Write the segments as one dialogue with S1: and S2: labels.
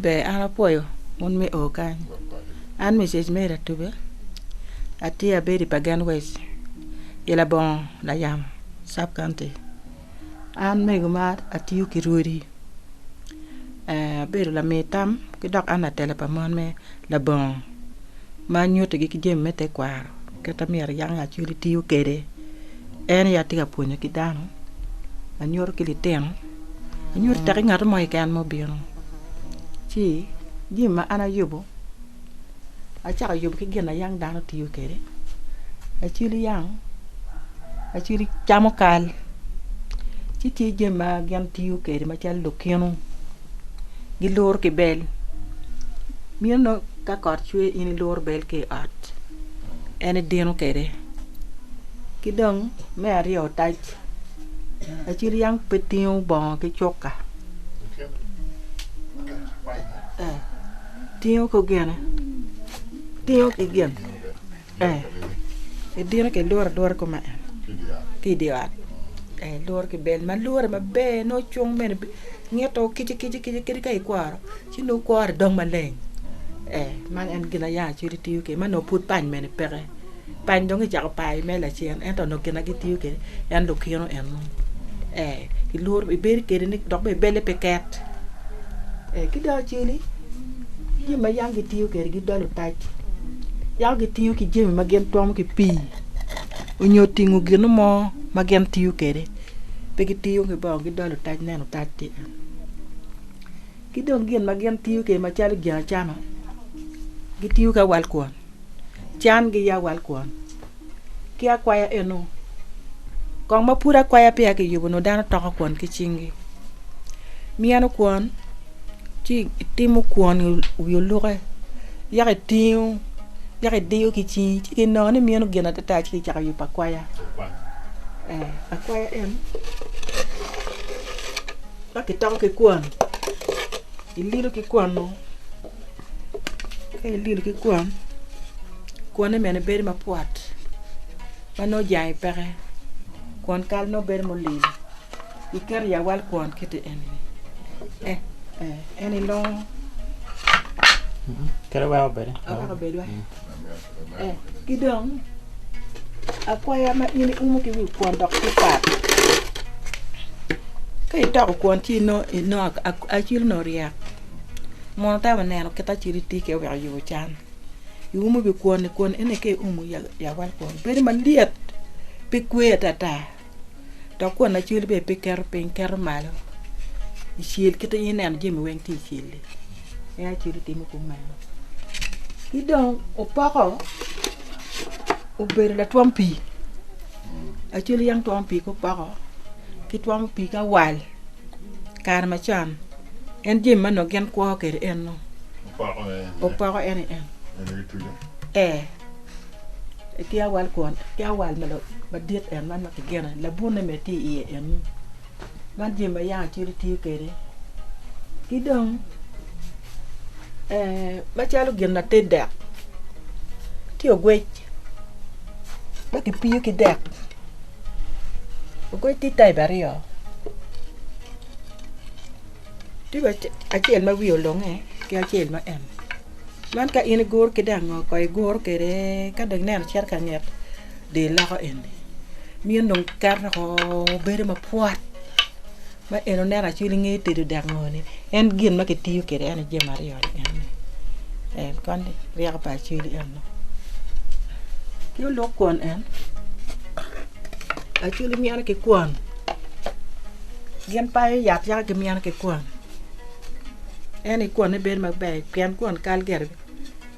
S1: Ber an apwoyo un me oo kany, an Mrs Mary Atube atye abedo i Pagen West i labongo Layamo sub county. An mego ma atiyo ki rwodi abedo lami tam ki dok an latela pa mon me labongo. ma nyutigi ki jami me tekwaro kit ma myero yam Lacwec-ci tiyo kwede. En aye atye ka pwonyo ki dano, anyuto ki litino, anyuto tek ki ngat mo keken ma obino. Ci jami ma an ayubo, acako ayubo ki gin ma yam dano tiyo kwede. Lacwil yam, lacwil camo kal, ci tye jami ma gin tiyo kwede macalo lukinu. gilur ki bel bino nongo ka kot cwe in ilur bel ki i ot en idino kwede ki dong me aryo otac laci ryang pe tingo bongo ki cuka tingo ki gin. Ee, edito ki lworo alwora koma en ki i dye ot. Ee, lworo ki bel ma lwore maber nongo ocung bene ngito kic kic kic kadi ka ikworo ci nongo kwore dong maleng. Ee, man en gin ma yaa acel itiyo kwede ma nongo pud pany bene peke. Pany dong kicako payo mere lacen ento nongo gin ma gitiyo kwede en lukino eno. Ee, ilworo ibedo kwede ni dok bene belle pe ket. Ee, ki dong acel-li Jami ma yam gitiyo kwede gidolo otac yako gitiyo ki jami ma gin twomo ki pii onyo tingo gino mo ma gin tiyo kwede pe gitiyo ki bongo gidolo otac neno otac tye kany ki dong gin ma gin tiyo kwede macalo gin acama gitiyo ki awal kwon. can gi ya wal kwon ki akwaya eno kong ma pud akwaya peya ki yubo nongo dano toko kwon ki cing gi miyeno kwon ci itimo kwon i wi oluke yako itingo yako idiyo ki cingi ci ki nongo ni miyeno gin adada ci ki cako yubo akwaya akwaya eno ma ki toko ki kwon ililo ki kwon nongo Ka ilil ki kwon, kwone mene bedo mapwot ma nongo jange peke, kwon kal nongo bedo mulil, iketo i awal kwon kiti eni eh eh en ilongo.
S2: Kadi weko bedi weko bedi weko.
S1: Ki dong, akwaya ma in iumo ki wi kwon dok tye pat. Ka itoko kwon ci inongo acil onongo oryek, mono tam ineno kit acil itye kwede wek oyub can. Iumo wi kwon-ni, kwon eni ka iumo i awal kwon bedo malyet pe kwe atata. dok kwon acwili bene pe keto piny keto malo i cel kit ma in ineno jami weng tye i cel-li en aye acwele timo kumeno ki dong opoko obedo latwom pii acwali yam twomo pii ki opoko ki twomo pii ki awal kare macon en jami ma onongo gin kwo kwede en nongo opoko en aye en ee. ki awal kwon, ki awal ma la- madit en man ma kigeno en, labunne bene tye i iye eni. Man jami ma yanga cwiny tiyo kwede. Ki dong, eh, macalo gin ma te dek, tye ogwec ma kipiyo ki dek. Ogwec tye type aryo, tye wa- acel ma wiye olunge ki acel ma en-ni. Man ka in iguro ki dang ngo kong iguro kwede ka dong ineno cito ka nget di loko eni miyo dong keto woko bedo mapwot ma en oneno acwil inge tedo dang ngo ni en gin ma kitiyo kwede en aye jami aryo ni eni en koni ryeko pa acwil eno ki olok kwon en acwil mine ki kwon gin payo yat yaka ki mine ki kwon. En i kwone bedo maber pien kwon kal gire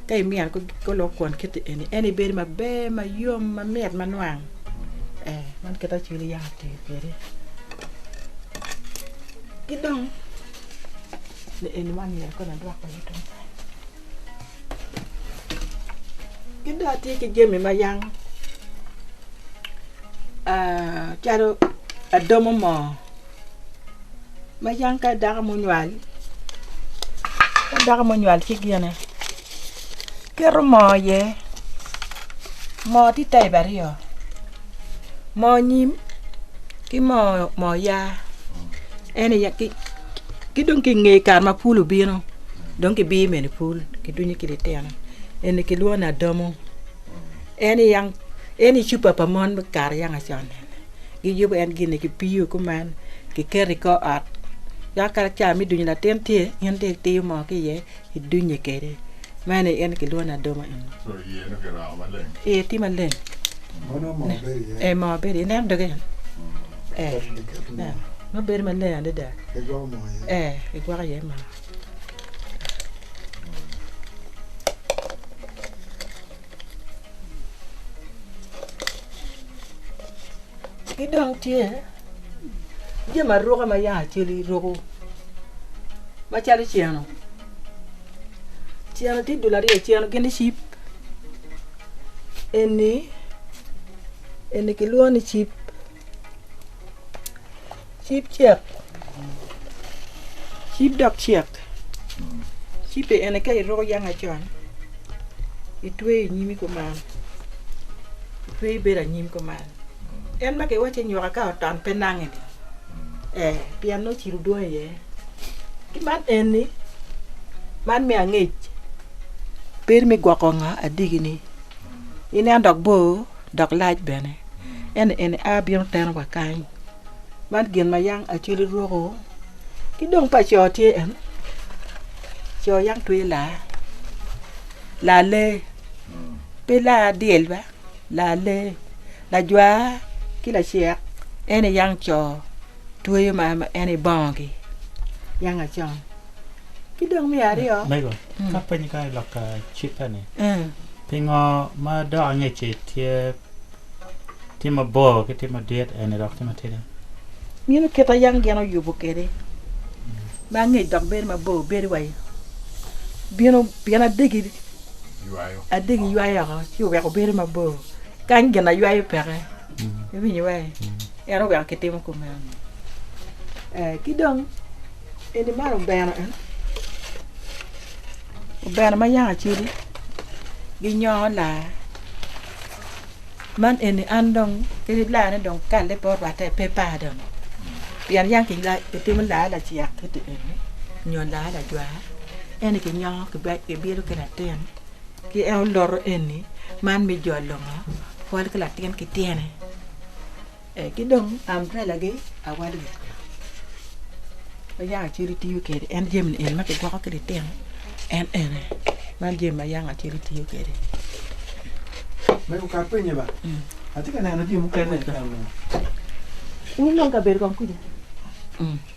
S1: ka imyero ko lok kwon kiti eni en i bedo maber ma yom ma mit ma nwang ee man kit acwili yam otiyo kwede ki dong ni eni man myero kong adwok kwede tung kany ki dong atye ki jami ma yam aa calo adomo moo Macan ka dako munywal ka dako munywal ci gine keto moo iye moo tye type aryo moo nyim ki moo yaa en aye ki dong ki inge kare ma pul obino dong ki biyo mere pul ki dunyo ki litino eni ki lwongo ni adamo en aye en aye cupa pa mon me kare yanga con. Giyubo en gin-ni ki piyo kuman, giketo i kor ot. Dok ka cawa me dunyo latin tye, in dong itiyo moo ki iye, idunye kwede. Meno en aye kilwongo ni adoma eni.
S2: Iye tye maleng.
S1: Ee, moo bedo iye. Ineno doge eni? Ee, nongo bedo maleng adada. Ee, kigwoko iye moo. Ki dong tye jami aruka ma yaka acel iruko macalo ceno, ceno tye dul aryo ceno gin ni cip eni eni kilwongo ni cip. Cib cek, cib dok cek. Cibbe ene ka iruko yang acon, itweyo i nyimi kuman, itweyo ibedo anyim kuman. En ma kiwacci nyoka ka oton pe nange-ni, ee, pien nongo cilo dwong iye. Ki man eni, man me angec, bedo me gwoko nga adiki-ni, ineno dok bor. dok lac bene, ento en a bino teno wa kany. Man gin ma yang Acholi rwoko ki dong pa co tye en, co yang tweye laa, laa lee, pe laa dyel ba, laa lee, lajwa ki lacek en aye yang co tweyo ma en aye bongogi, yang acon. Ki dong me aryo. Mego, ka penyo
S3: kany i lok cikke-ni, pingo ma dok angec-ci tye mabor ki tye madit, eni dok tye matidi? Mino kit
S1: ma yam gin oyubo kwede ma angec dok bedo mabor bedo wa i bino pien adegi ywayo oko ci oweko bedo mabor. Kany gin aywayo peke. Iwinyo-wa-i? En oweko kitimo kumeno-ni. Ee, ki dong. Eni man obeno eni obeno ma yanga cwidi gi nyongo laa man eni an dong kadi laa ne dong kalle pe orwatte pe par dong pien yang kitimo laa lacek kiti eni nyo laa lajwar eni kinyongo kibino ki latin ki en oloto eni man me jolo ngo pol ki latin ki tyene. Ki dong ambrelagi awal wiye ma yaka acel itiyo kwede en jami eni ma kigwoko ki litino en ene man jami ma yaka acel itiyo
S4: kwede.
S1: Wun dong kabedo kong kwija?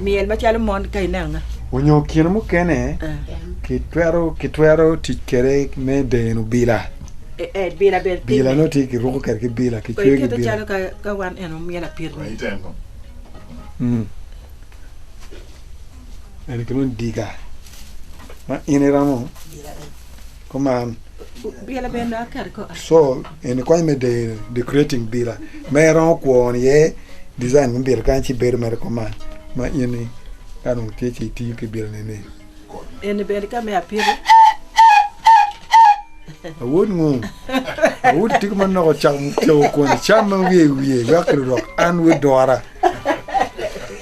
S1: myel macalo mon ka ineno nga. Onyo kine
S5: mukene kitwero tic kwede me deno bila, bila nongo tye kiruko kwede ki bila ki cweyo ki bila. Eni ki dong diga ma in iromo. kuman.
S1: Sol eni
S5: konyo me deyo decorating bila ma iromo kwon iye design me bila kany ci bedo mere kuman ma in ka dong tye ka tiyo ki bila ni eni bene
S1: ka me apito.
S5: Awod ngo awod itiko ma noko ocako cako kwon icam ma wiye i wiye wek ki lurok an wod dora.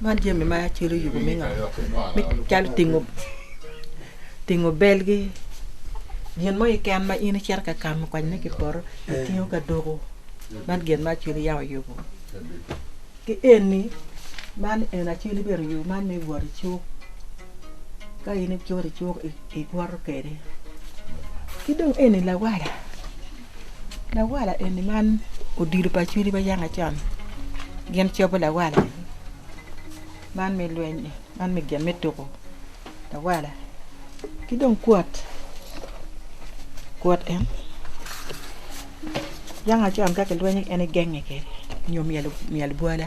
S1: Man jami ma calo yubu me ngo me calo tingo tingo belgi gin mo keken ma in icito ka kamo konyone ki i poto itingo ka doko man gin ma acel yam oyubu ki eni man eni acel bene oyubu man me wot icuk ka in icuto icuk igwoto kwede ki dong eni lawala. Lawala eni man odilo pa Acholi ma yanga con gin cobo lawala man me lweny ni man me gin me tuko lawala ki dong kwot kwot en yanga con ka kilweny en genge kwede nyo myel myel bwola.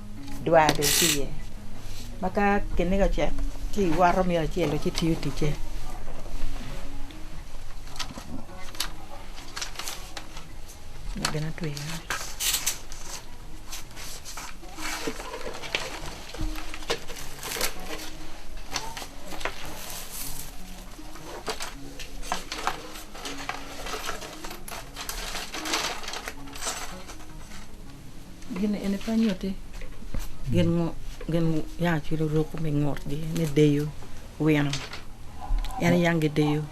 S1: Dwa bene tye iye ma ka kiniga ocek ci iwoto myero acel ci tiyo ticce. Gin eni pe nyutti gin ya ki luruku me ngutgi me deyo wino. En niyang gideyo.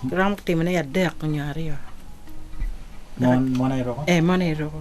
S1: Giromo timone adek nyo aryo.
S3: Mon aye ruku? Ee, mon aye ruku.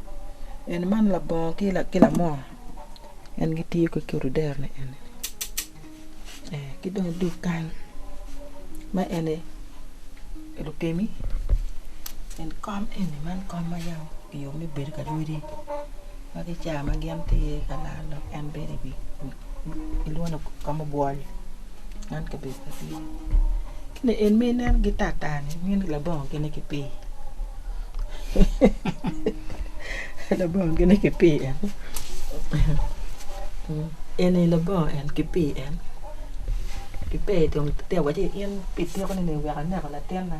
S1: Eni man labongo ki lamon en gitiyo kwede ki odero ni eni ki dong idog kany ma eni lutemi eni kom eni man kom ma yam kiyubo me bedo ka rwodi ma ki cawa ma gin tye ka laro lok en bedo iwi ilwongo ka mubwol man kabedo pa pii ki ni en ma ineno gi tar tar ni mini labongo gine ki pii labongo gine ki pii en en aye labongo en ki pii en ki pee dong tek wacci in pi tiko ni wek aneko latinna.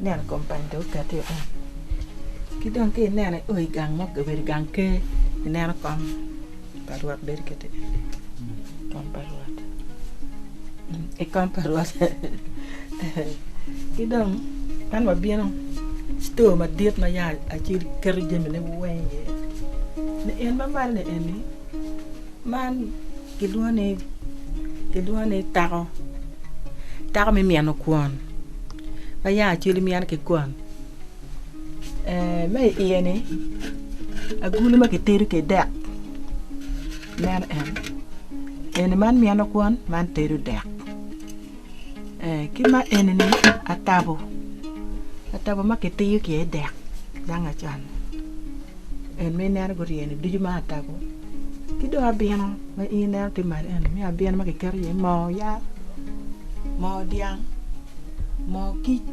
S1: Ineno kombany dong okati woko ni ki dong ki ineno i oi gang mo obedo gang ker ineno kom pa rwot bedo kiti kom pa rwot i kom pa rwot ki dong man wabino cito madit ma yat acel keto jamine weng iye ni en ma malo ni eni man Gilwongo ni, gilwongo ni tako, tako me myeno kwon ma yanga acwele myeno ki kwon ma i iye ni agulu ma kitedo kwede dek meno en, eni man myeno kwon man tedo dek. Ki ma eni-ni atabo, atabo ma kitiyo ki iye dek dang acan en ma ineno guryene ducu ma atabo ki dong abino ma in ineno tye malo eni me abino ma kiketo iye moo yat, moo dyang, moo kic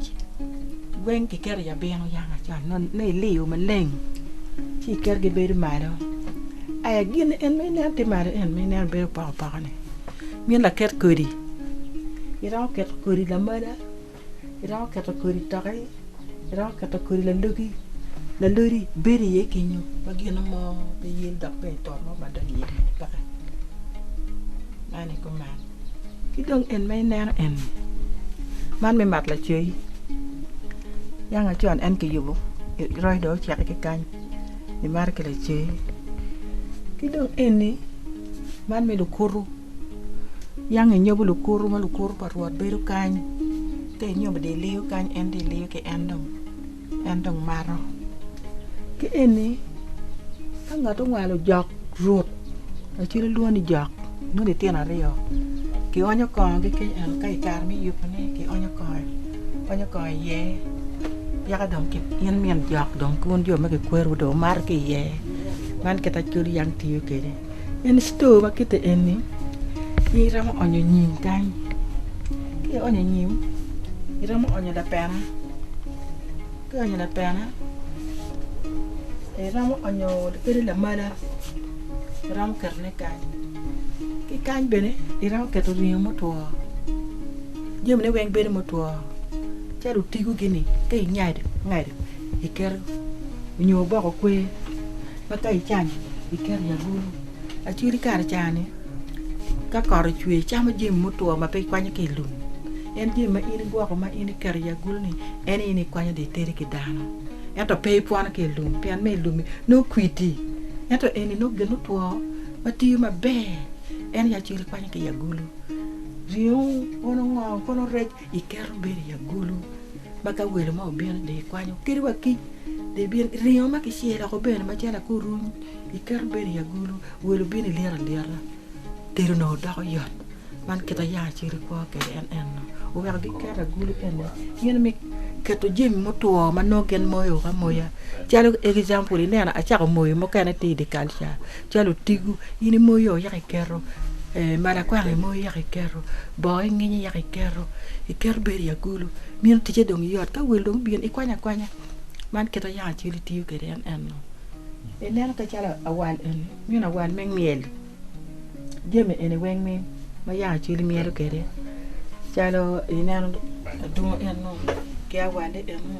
S1: weng kiketo i abino dang acan nongo iliyo maleng ci iketo gibedo malo. Aya gin eni ma ineno tye malo eni ma ineno bedo opoko poko-ni Min laket kodi, iromo keto kodi lamala, iromo keto kodi toki, iromo keto kodi lalogi, lalodi bedo iye kenyo ma gin mo pe ye dok bene i poto mo ma donyo iye mene peke, man aye kuman. Ki dong en ma ineno eni, man me mat lacoc, yanga con en kiyubo, roc dong ocek ki kany, imato ki lacoc. Ki dong eni. Man me lukutu yang enyobo lukutu ma lukutu pa Rwot bedo kany ka enyobo dye liyo kany en dye liyo ki en dong en dong mato ki eni ka ngat owalo jok rut acel ilwongo ni jok nongo litino aryo kionyo kongogi keny ento ka ikare me yubune kionyo kongo ionyo kongo iye yaka dong in min jok dong ki wun jo ma kikwerowu dong wumato ki iye. Man kit Acholi Young tiyo kwede. En store ma kite eni in iromo onyo nyim kany. Ka ionyo nyim, iromo onyo lapena. Ka ionyo lapena, iromo onyo kadi lamala, iromo ketone kany. Ki kany bene iromo keto ringo mutwo. Jamine weng bedo mutwo calo otigo gi ni ka ingado ingado. iketo nyo oboko kwer ma ka icanyo iketo i agulu acwidi kare cani ka kot ocwe icamo jami mutwo ma pe ikwanyo ki i lum en jami ma in igwoko ma in iketo i agulu-ni en aye in ikwanyo dong iteri ki dano ento pe ipwono ki i lum pien ma i lum-mi nongo kwidi ento eni nongo gin mutwo ma tiyo maber en aye acwidi ikwanyo ki i agulu ringo kono ngo kono rec Iketo me bedo i agulu ma ka welo mo obino dong ikwanyo kadi wa kic dong ibino ki ringo ma kicelo woko bene macalo akuruny iketo me bedo i agulu welo obino ilyet alyeta tedo onongo doko yot man kit ma yam acito ikwo kwede en eno oweko giketo agulu eni gino me keto jami mutwo ma nongo gin moyo amoya calo example ineno acako moyo mukene tye i dye kal ca. Calo otigo, in imoyo yaka iketo, mala kwang imoyo yaka iketo, boo inginyo yaka iketo, iketo bene i agulu, meno ticce dong yot, ka wel dong obino ikwanyo akwanya, man kit ma yako acel itiyo kwede en eno, ineno calo awal eni, meno awal me myel, jami eni weng ni ma yako acel imyelo kwede calo ineno adungo eno ki awale eno.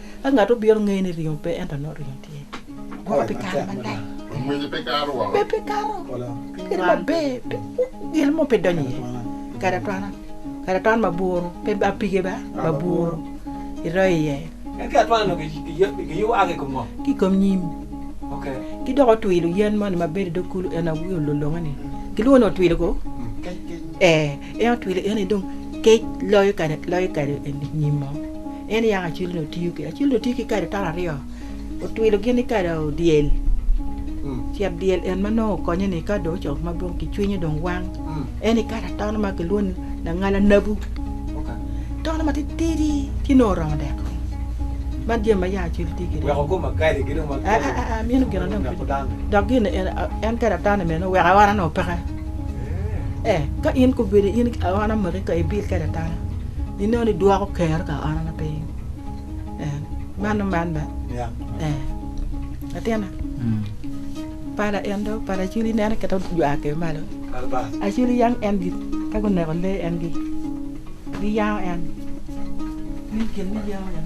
S1: Ka ngat obiro, ngeyo ni ringo pe, ento nongo ringo tye. Guro pi kare malac. Ngwece pe kato
S2: woko. Pe pe kato.
S1: Kadi maber, pe gin mo pe donyo iye. Kadi atwana, kadi atwana ma buru, pe ba pige ba, ma buru, iroyo iye. En ki atwana nongo
S4: gi, giyubo a ki i kom ngo? Ki i kom nyim.
S1: Okay.
S4: Ki dok otwilo
S1: yen moni ma bedo i dog kulu, en aye olulunge-ni. Gilwongo ni otwilo ko? Kec, kec. Ee. En otwilo en aye dong kec loyo kare loyo kare nyim oo en yako acwilo ni otiyo ki acwilo ni otiyo ki kare tara aryo otwilo gin ni kare oo dyel cet dyel en ma nongo okonye ni ka dong ocoko ma dong kicwinyo dong wang en ni kare atono ma kilwongo ni langal anabu tono ma titidi ci nongo oromo deko man jami ma yako acwilo tiyo kwede weko koma kali gi
S4: dong ma kali aa meno gin ma
S1: dong dok gin ni en kare atano mene oweko ora nongo peke. Ee, ka in gubedo in aona omaki ka ibil kwede atana, ineno ni dwoko kero ka aonana pe in. Ee, mano man ba. Ee, latina. Pala en do, pala aculi nene keto jwak ke malo. Aculi yang en gi, ka guneko lee en gi, giyango en. Ni gin ni yango en.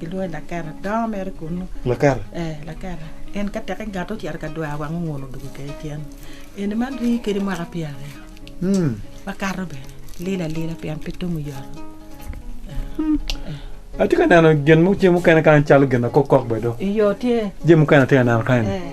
S1: Gilwonge Laketa. Dongo mere kunu. Laketa? Ee,
S5: Laketa.
S1: En ka tek engato ocito ka dwar wang ongun odwogo kede cen. Eni man rii kede mwaka pyeraryo. Hmm. Wakato bene. Lilo alila pien pe tum oyoto.
S5: Atye ka neno gin mo jami mukene kany calo gin akok kok bene do. Iyo, tye. Jami
S1: mukene atye ka neno
S5: kany-ni. Ee.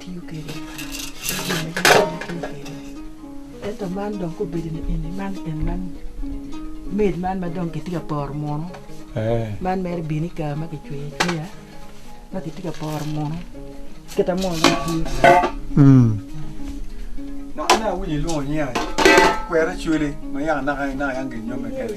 S1: tiyo kwede me jami ma dano twero tiyo kwede ento man dong ka obedo ni eni man en man maid man ma dong kitye ka poro munu man mere bino i kare ma kicweyo acweya ma kitye ka poro munu kita munu dong itiyo kwede.
S5: Dok nen awinyo ilwongo nyinga ni kwera cwele ma yaka naka naka yang ginyome kene.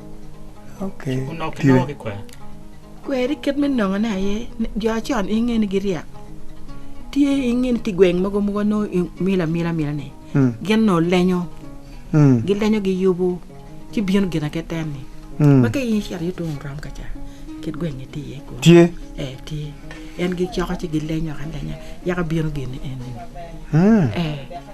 S3: Kweri
S1: kit me nongo ne aye jo acon i nge ni giryek tye i nge ni tye gweng mogo ma wa nongo imila mila mila ni gin nongo lenyo gi lenyo gi yubu ci bino gin ake ten ni ma ka in icito iye tung orom kaca kit gweng ni tye iye kunu tye tye en gi coko ci gi lenyo alenya yaka bino gin ni eni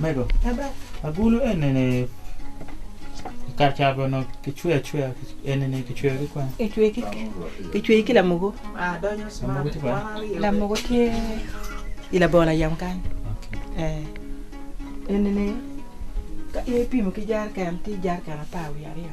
S3: Mego, agulu enini kacabo onongo kicweyo acweya enini kicweyo ki kwane?
S1: Kicweyo ki lamogo,
S6: lamogo
S1: tye i labongo layem kany
S3: enini
S1: ka in ipimo ki jeriken tye jeriken apar wiye aryo.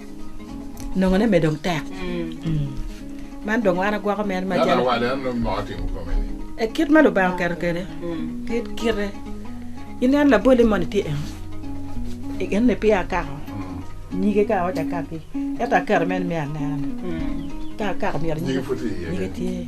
S1: nongone me dong tek. Man dong wan agwoko mere ma calo
S2: kit ma Lubanga
S1: oketo kwede kit kite. Inen laboli moni tye en en ni peya akako nyige ka awaco akaki ento aketo mere ni me anena ni ka akako myero nyige
S2: tye.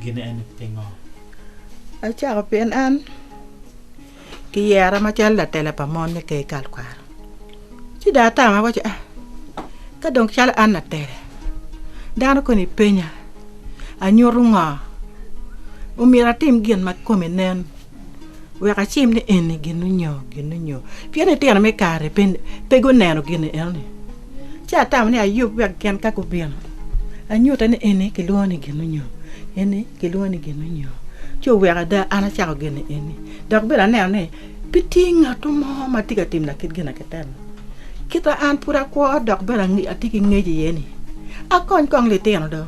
S3: gin eni pingo?
S1: Acako pien an kiyera macalo latela pa mon me ker i tekwaro. Ci dong atamo awaco, ah, ka dong calo an latela, dano koni penya, anyutu ngo? Omyero atim gin ma kome nen. Wek acim ni eni ginu nyo, ginu nyo. Pien litino me kare pe, pe guneno gin enoni. Ci atamo ni Ayub wek gin ka gubino, anyute ni eni kilwongo ni ginu nyo, eni kilwongo ni ginu nyo. Ci oweko ada an acako gin eni. Dok bene aneno ni pe tye ngatu mo ma tye ka timna kit gina kitemo. Kita an pud akwo dok bene atye ki ngec iye ni, akony kong litino do.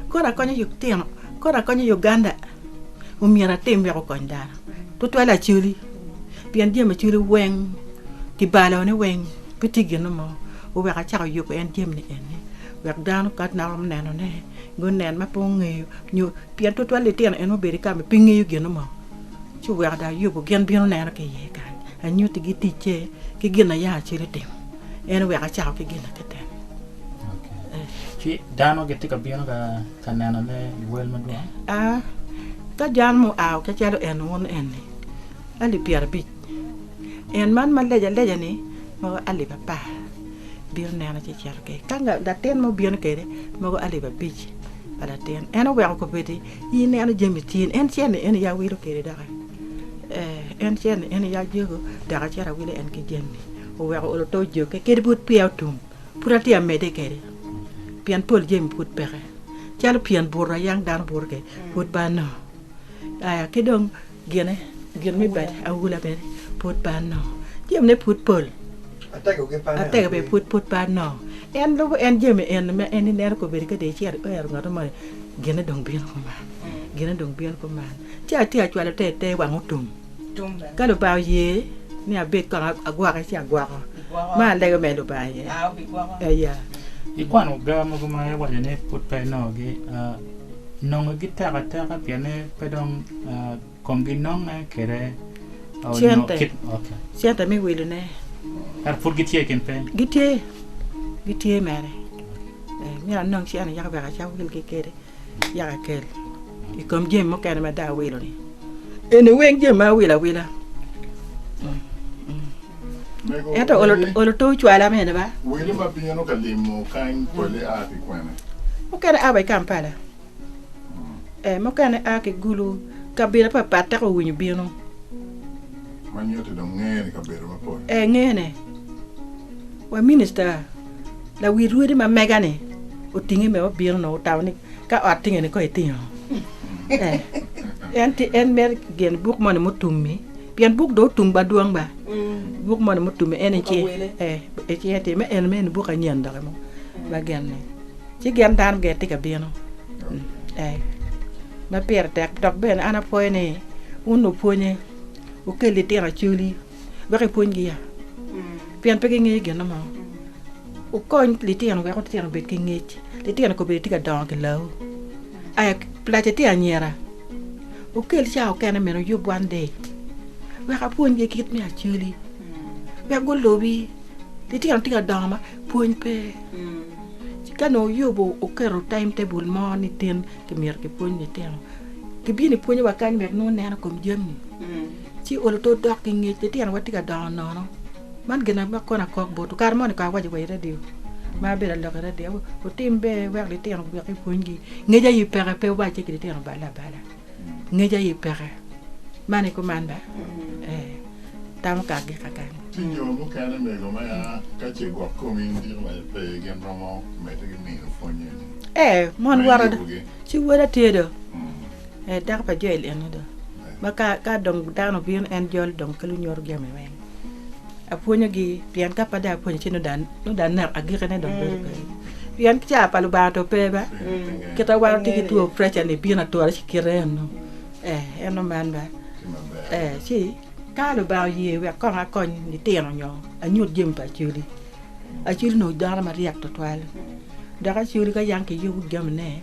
S1: Kono akonyo litino, kono akonyo Uganda. omyero atim wek okony dano tutwale acoli pien jami macoli weng ki balone weng pe tye gin mo oweko acako yubo en jami ni eni wek dano ka nongo oneno ne gunen ma pe ongeyo nyo pien tutwal litino en obedo ka ma pe ngeyo gin mo ci oweko dong ayubo gin bino neno ki iye kany anyuti gi ticce ki gin aye acel otimo en oweko acako ki gin na kite ni.
S3: Ka nenone i wel madwong. A
S1: Ka jal mo ao ke calo en wun eni, alip pyerabic, en man ma leja leja-ni mogo alip apar, bino nena ci cito ki. Ka latin mo bino kede, mogo alip abic pa latin, en oweko kobedi, I neno jami tyen, en ce ni en iya wilo kede doki? Ee, en ce ni en iya jego, dok acito awilo en ki jami. Oweko olo to jokki, kede bot pia otum. Pud atye ka medde kede, pien pol jami pud peke, calo pien buto a yam dano buto kede, pud pe anongo. Aya ki dong gine, gin me bade, aula bene, pud pe anongo. Jamine pud pol, atego bene pud pud pe anongo. En lubo en jami eni ma en ineno kobedi ka dong icito ikwero ngotto moni, gine dong bino kuman, gine dong bino kuman. Ci atye ka cwalo te i te wang otum. Ka Lubanga oye ni abed kong agwoke ci agwoko, ma alego mere Lubanga iye. Aya. Ikwano
S3: gar mogo ma iwaco ni pud pe inongogi? Nongo gitek ateka pienni pe dong komgi nonge kwede? Cente.
S1: Cente me wilone. Ento pud
S3: gitye i kin peny? Gitye.
S1: Gitye mere. Myero anong cente yaka wek acak wilgi kwede. yaka ikel i kom jami mukene ma dong awilo ni eni weng jami ma awilo awila ento olo to ocwala mene ba wele ma bino ka
S2: limo kany pole a ki kwene mukene a wa i
S1: kampala eh, mukene a ki gulu kabila papat teko owinyo bino ma
S2: nyuti dong ngene kabedo mapol eh ngene
S1: wa minista Lawi rwodi ma mega-ni otinge me obino onongo otamo ni ka ot tingeni kong itino. En ti en mer gen buk moni mutumi pien buk do otum ba dwong ba. Buk moni mutumi en ci e ci eti me en me en buk anyen doki mo ma gen ni. Ci gen dano gen ti ka bino. Ma pire tek dok bene an apwoyo ni wun lupwonye wukeli litino acoli. wek ipwonygi ya, pien pe gingeyo gin mo. Wukony litino wek litino obed ki ngec. Litino kobedi tye ka dongo ki lawu. Aya, Pelaca tye anyira. Wukel cawa okene mene wuyub one day wek apwonygi kit me acoli, wek gulubi. Litino tye ka dongo ma pwony pe. Ci ka nongo wuyubo, wuketo time table mo ni tin kimyero kipwony litino, kibino ipwonyowa kany wek nongo wunen i kom jami. Ci olo tol dok ki ngec, litinowa tye ka dongo nono. Man gin ma kono akok botwu, kare moni kong awaco wa i radio, ma abedo ka lok i radio, wutim ber wek litino gubik ki pwony gi. Ngec aye peke, pe wubal cik ki litino balla abala. Ngec aye peke. Man i kuman ba? Ee. Tamo kagi kakan. Ci jo mukene
S2: mego ma ya ka ce gwok komi indiko wa aye pe, gin romo medde ki mino pwony eni. Ee, mon me
S1: woro, yubugi. ci woda tye do. Dako pa Joel eni do, ma ka dong dano obino, en jolo dong ka lunyoto jami weng. Apwonyogi, pien ka pe dong apwonyo ci nongo dong anek, agikine dong bedo pe. Pien caa pa Lubanga dong pe ba, kite wa watye ki two preca-ni bino ature ci kite eno, ee, en oman ba. Ee, ci ka Lubanga oye wek kong akony litino nyo anyut jami pa Acholi, Acwili onongo dano maryek twatwal dok acwili ka yam kiyubo jamine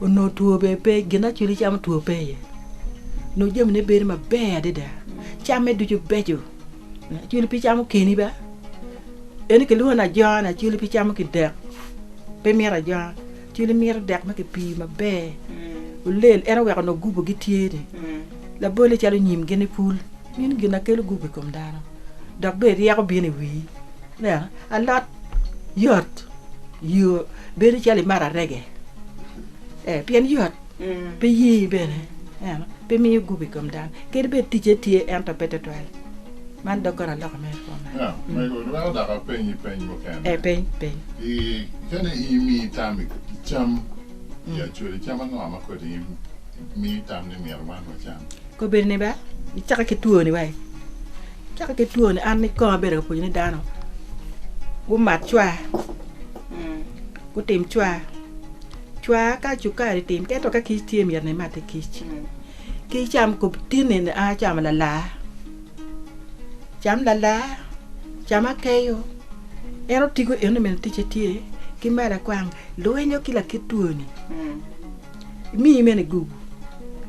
S1: onongo two bene pe gin ma acwili camo two pe iye onongo jamine bedo maber adada camme ducu beco acwili pe camo keni ba ento kilwongo ni ajona acwili pe camo ki dek pe mito ajona. Ci limiro dek ma kipiyo maber olel, ento wek onongo gupu gitye ni labolle calo nyim gin i pul. Meno gin na kelo gupu i kom dano, dok bene ryeko bino i wii. Ineno, alot yot yo bedo calo imato arege, ee, pien yot, pe yii bene, ineno, pe miyo gupu i kom dano. Kadi bed ticce tye ento pe twatwal. Man dok kare aloka mere kwo man. Ya, omego, iweko
S2: dok apenyi peny mukene. E, peny, peny.
S1: I,
S2: kene imi tam i cam i Acholi, cam ango ma kodi mi tam ni myero wan wacam? Kobedo ni ba,
S1: icake ki two ni wai, icake ki two ni, an ni kong abedo ka pwonyo ni dano gumat cwa, gutim cwa, cwa ka cukari tim, ento ka kic tye myero ni imatte kic. Ki icam kub tin eni, 'An acamo lalar, cam lalar, cam akeyo. En otigo eno mene ticce tye. Ki me lakwang, lwinyo ki lakit twoni emiyi mene igugu,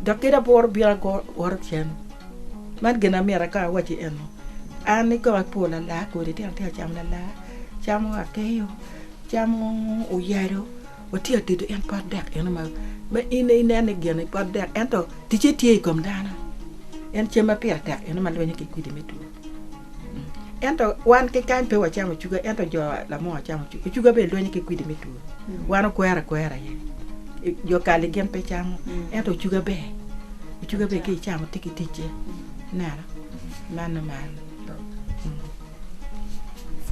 S1: dok kadi abwor obino ago woro cen. Man gin amyero akong awacci eno, an ni kong apo lalar kodi, tyen ni atye ka camo lalar, acamo akeyo, acamo oyalo. watye adidi en pot dek eno ma in aye inen ni gine pot dek ento ticce tye i kom dano en cem ma pire tek eno ma lwenyo ki kwidi me two ento wan ki kany pe wacamo ocuga ento jo lamo wacamo ocuga, ocuga bene lwenyo ki kwidi me two wan okwero akwera aye jo kali gin pe camo ento ocuga ber ocuga ber ka icamo tye ki ticce ineno meno man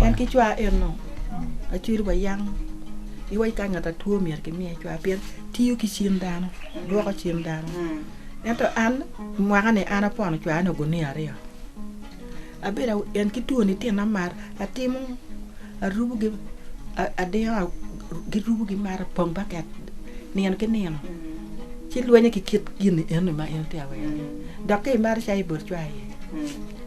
S1: En ki cwa eno acwiri wa yam iwaci ka ngat atwo myero ki miye cwa pien tiyo ki cim dano lwoko cim dano ento an mwaka ni an apono cwaya nongo guniya aryo abedo en ki twoni tina mar atimo arubo gi adiya gi rubo gi mar pong baket nino ki nino ci lwenyo ki kit gini eno ma en tye awero ni dok ki maro cai bot cwa aye.